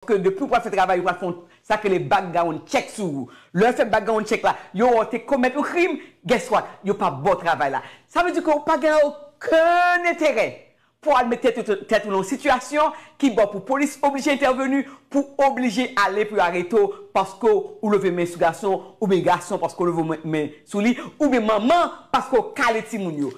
Ke depi ou pral fè travay yo pral fon sak rele background check sou ou. Lè yo fè background check la, yo wè ou te komèt yon krim, guess what, yo pa baw travay la. Sa vle di ke ou pa gen okenn enterè pou al met tèt ou nan yon sitiyasyon ki baw pou polis oblije entèveni, pou oblije ale pou yo arete w paske ou leve men sou gason, oubyen gason paske w leve men sou li, oubyen manman paske w kale timoun yo.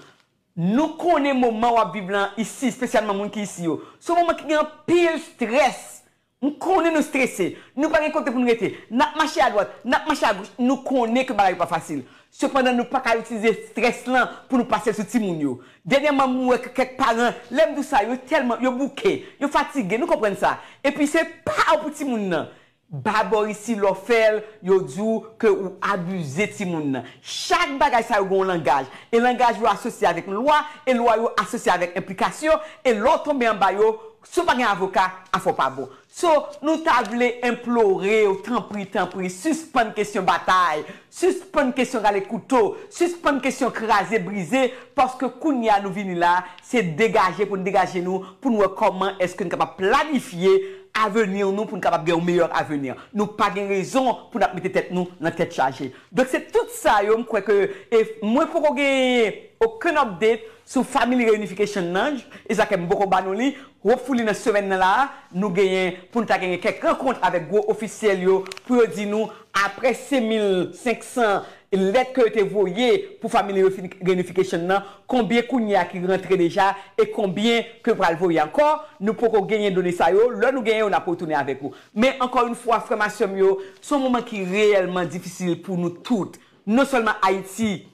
Nou konnen moman wap viv lan isi, spesyalman moun ki isi yo. Se yon moman ki gen anpil strès. M konnen nou strese. Nou pa gen kote pou nou rete. Nap mache a dwat, nap mache a goch. Nou konnen ke bagay yo pa fasil. Sepandan nou paka itilize strès lan pou nou pase l sou timoun yo. Dènyèman m wè ke kèk paran, lè m di w sa, yo tèlman, yo bouke, yo fatige, nou konprann sa. Epi se pa ou pou timoun nan. Ba Bòrisi lò fèl yo di w ke ou abize timoun nan. Chak bagay sa yo gen yon langaj, e langaj yo asosye avèk lwa, e lwa yo asosye avèk enplikasyon, e lè w tonbe anba yo, si w pa gen avoka, afè w pa bon. So, nou ta vle enplore w, tanpri, tanpri, sispann kesyon batay, Sispann kesyon rale kouto, sispann kesyon kraze brize paske kounye a nou vini la se degaje pou n degaje nou pou n wè kòman èske n kapab planifye aveni nou pou n kapab gen yon meyè aveni. Nou pa gen rezon pou n ap mete tèt nou nan tèt chaje. Donk se tout sa yo m kwè ke e mwen poko genyen okenn update sou Family Reunification nan e sa ke m poko ba nou li, hopefully nan semèn nan la a nou genyen pou n ta genyen kèk rankont avèk gwo ofisyèl yo pou yo di nou Aprè 5500 lèt ke yo te voye pou family reunification nan, konbyen kounye a ki rantre deja e konbyen ke yo pral voye ankò, nou poko genyen done sa yo, lè nou genyen yo nap retounen avèk ou. Men ankò yn fwa frè m a sè m yo, son moman ki reyèlman difisil pou nou tout, non sèlman Ayiti,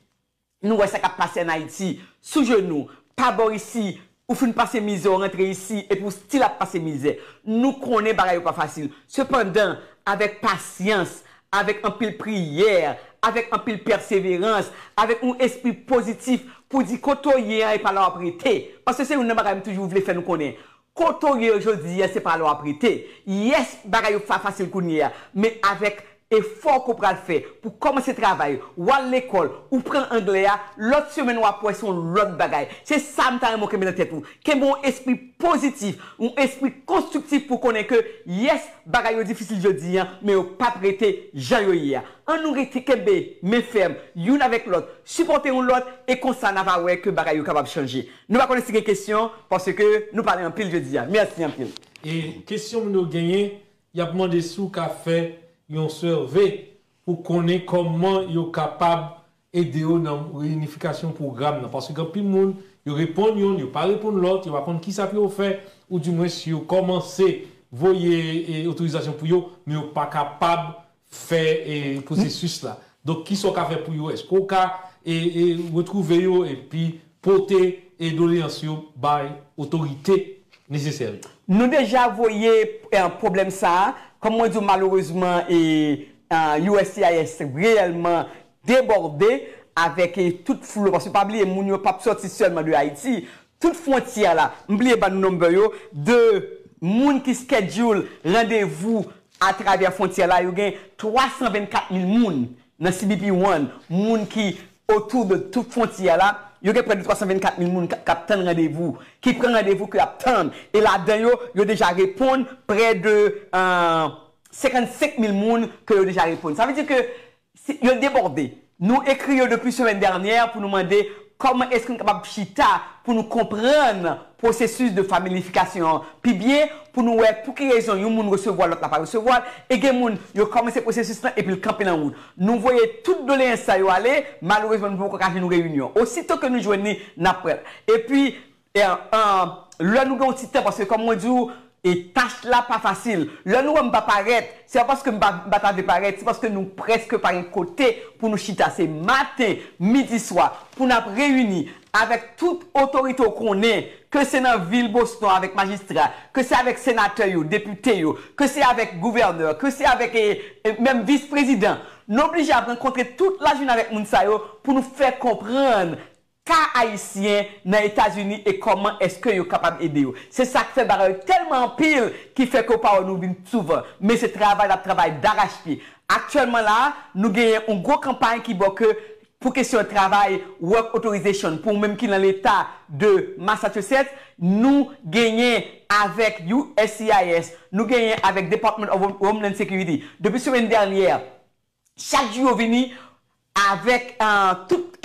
Nou wè sa kap pase an Ayiti, sou jenou, pa bò isi, ou fin pase mizè ou rantre isi epi ou stil ap pase mizè. Nou konnen bagay yo pa fasil. Sepandan, avèk pasyans, avèk anpil priyè, avèk anpil pèseverans, avèk yon espri pozitif pou di kote w ye an e pa la w ap rete. Paske se youn nan bagay m toujou vle fè nou konnen. Kote w ye yo jodi a se pa la w ap rete. Yes bagay yo pa fasil kounye a men avèk efò ke w pral fè pou w kòmanse travay, w al lekòl, ou pran anglè a, lòt semèn w ap wè se yon lòt bagay. Se sa m ta renmen w kenbe nan tèt ou. Kenbe yon espri pozitif, yon espri konstriktif pou w konnen ke yes bagay yo difisil jodi a men yo pap rete jan yo ye a. An nou rete kenbe men fèm youn avèk lòt, sipòte yon lòt e konsa na va wè ke bagay yo kapab chanje. Nou pa konnen si gen kesyon paske nou pale anpil jodia. Merci anpil. E kesyon moun yo genyen yap mande si w ka fè yon survey pou konnen kòman yo kapab ede yo nan reyinifikasyon pwogram nan paske gen anpil moun yo reponn yonn yo pa reponn lòt yo pa konn kisa pou yo fè ou di mwens yo kòmanse voye otorizasyon pou yo men yo pa kapab fè pwosesis la. Donk kisa w ka fè pou yo? Eske w ka retwouve yo epi pote doleyans yo bay otorite nesesè yo? Nou deja voye pwoblèm sa a, kòm mwen di w malerezman uscis reyèlman debòde avèk tout flou, paske pa bliye moun yo p ap sòti sèlman de Ayiti, Tout frontyè a la. M bliye bann number yo de moun ki schedule randevou a travè frontyè la yo gen 324 mil moun nan cbp one moun ki autour de tout frontyè a la yo gen près de 324 mil moun kap tann randevou ki pran randevou ke ap tann e ladan yo yo deja reponn près de 55 mil moun ke yo deja reponn sa vle di ke Yo debòde. Nou ekri yo depi semèn dènyè pou nou mande kòman èske nou kapab chita pou nou konprann pwosesis de familifikasyon an pi byen, pou nou wè pou ki rezon yon moun resevwa l lòt la pa resevwa l, e gen moun yo kòmanse pwosesis lan epi l kanpe nan wout. Nou voye tout doleyans sa yo ale, malerezman nou poko ka jwenn reyinyon. Osito ke nou jwenn li, n ap pran l. Epi, Lè nou gen yon ti tan paske kòm mwen di ou tach la pa fasil. Lè nou wè m pa parèt se pa paske m pa ta vle parèt se paske nou prèske pa gen kote pou nou chita se maten, midi, swa pou n ap reyini avèk tout otorite ou konnen ke se nan vil Boston avèk majistra ke se avèk senatè yo, depite yo ke se avèk gouvènè ke se avèk menm vis prezidan. Nou oblije ap rankontre tout lajounen avèk moun sa yo pou nou fè konprann ka ayisyen nan etazini e kòman eske yo kapab ede yo se sak fè bagay yo tèlman anpil ki fè ke ou pa wè nou vin souvan men se travay nap travay darachpye aktyèlman la nou genyen yon gwo kanpay ki bò ke pou kesyon travay work authorization pou ou menm ki nan leta de Massachusetts nou genyen avèk uscis nou genyen avèk department of homeland security depi semèn dènyè Chak jou yo vini avèk tout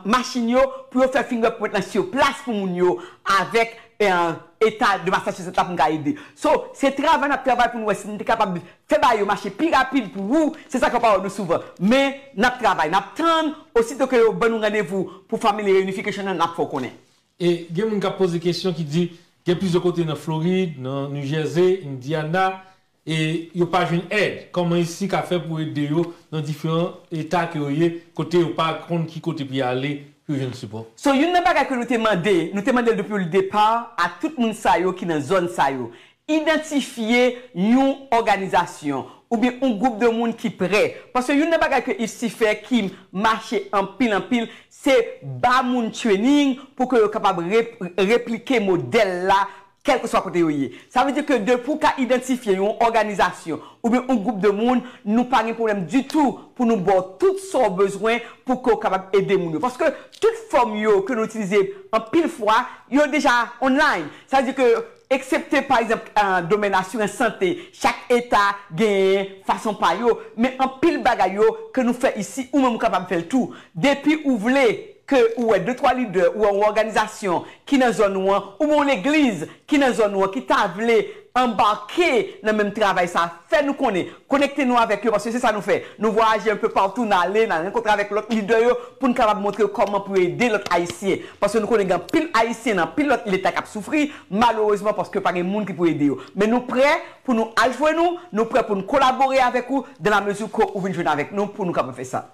machin yo pou yo fè fingerprint lan sur place pou moun yo avèk eta de Massachusetts la pou n ka ede. So, se travay n ap travay pou n wè si n te kapab fè bagay yo mache pi rapid pou wou, se sa k ap pa wè nou souvan. Men, n ap travay, n ap tann, osito ke yo ban nou randevou pou Family Reunification nan, n ap fè w konnen. E gen moun k ap poze kesyon ki di gen plizyè kote nan Florid, nan New Jersey, Indiana, e yo pa jwenn èd, kòman ICSI ka fè pou ede yo nan diferan eta ke yo ye, kote yo pa konn ki kote pou yo ale pou yo jwenn sipò? So youn nan bagay ke nou te mande, nou te mande l depi l depa a tout moun sa yo ki nan zòn sa yo, idantifye yon òganizasyon oubyen yon gwoup de moun ki prè, paske youn nan bagay ke ICSI fè ki mache anpil anpil se ba moun training pou ke yo kapab replike modèl la kèlkeswa kote yo ye. Sa vle di ke depi w ka idantifye yon òganizasyon oubyen yon gwoup de moun, nou pa gen pwoblèm ditou pou nou ba w tout sa w bezwen pou ke w kapab ede moun yo. Paske tout fòm yo ke nou itilize anpil fwa, yo deja online. Sa vle di ke eksepte pa egzanp domèn asirans sante, chak eta genyen fason pa yo, men anpil bagay yo ke nou fè isi, ou menm ou kapab fè l tou. Depi ou vle. ke ou wè de twa lidè, ou wè yon òganizasyon ki nan zòn ou an, oubyen yon legliz ki nan zòn ou an ki ta vle anbake nan menm travay sa a, fè nou konnen, konekte nou avèk yo, paske se sa nou fè. Nou vwayaje enpe patou, n ale, n al rankontre avèk lòt lidè yo pou n kapab montre yo kòman pou yo ede lòt Ayisyen. Paske nou konnen gen anpil Ayisyen nan anpil lòt leta k ap soufri, malerezman, paske pa gen moun ki pou ede yo. Men nou prè pou nou al jwenn ou, nou prè pou n kolabore avèk ou, dan la mezi ke ou vin jwenn avèk nou pou nou kapab fè sa.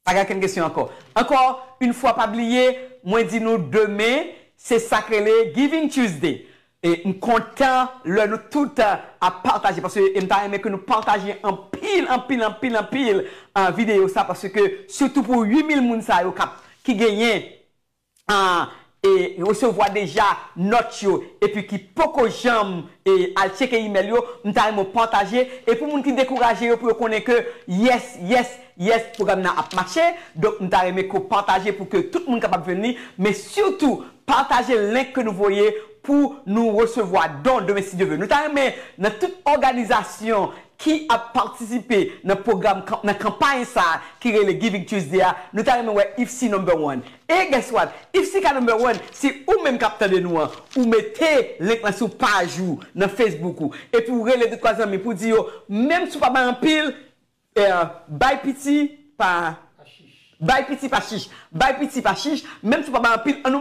Pa gen okenn kesyon ankò. Ankò yn fwa pa bliye mwen di nou demen se sak rele Giving Tuesday e m kontan lè nou tout ap pataje paske e m ta renmen ke nou pataje anpil anpil anpil anpil video sa paske sitou pou 8000 moun sa yo kap ki genyen an resevwa deja nòt yo epi ki poko janm al tcheke imèl yo, m ta renmen w pataje e pou moun ki dekouraje yo pou yo konnen ke yes, yes, yes pwogram nan ap mache, donk m ta renmen ke w pataje pou ke tout moun kapab jwenn li, men sitou pataje link ke nou voye pou nou resevwa don demen si Dye ve. Nou ta renmen nan tout òganizasyon ki ap patisipe nan pwogram nan kanpay sa a ki rele Giving Tuesday a, nou ta renmen wè IFC number one. E guess what? IFC ka number one si ou menm k ap tande nou an, ou mete link lan sou paj ou nan Facebook ou, epi ou rele de twa zanmi pou w di yo, menm si w pa bay anpil, bay piti pa chich, bay piti pa chich, bay piti pa chich, menm si w pa bay anpil, an nou.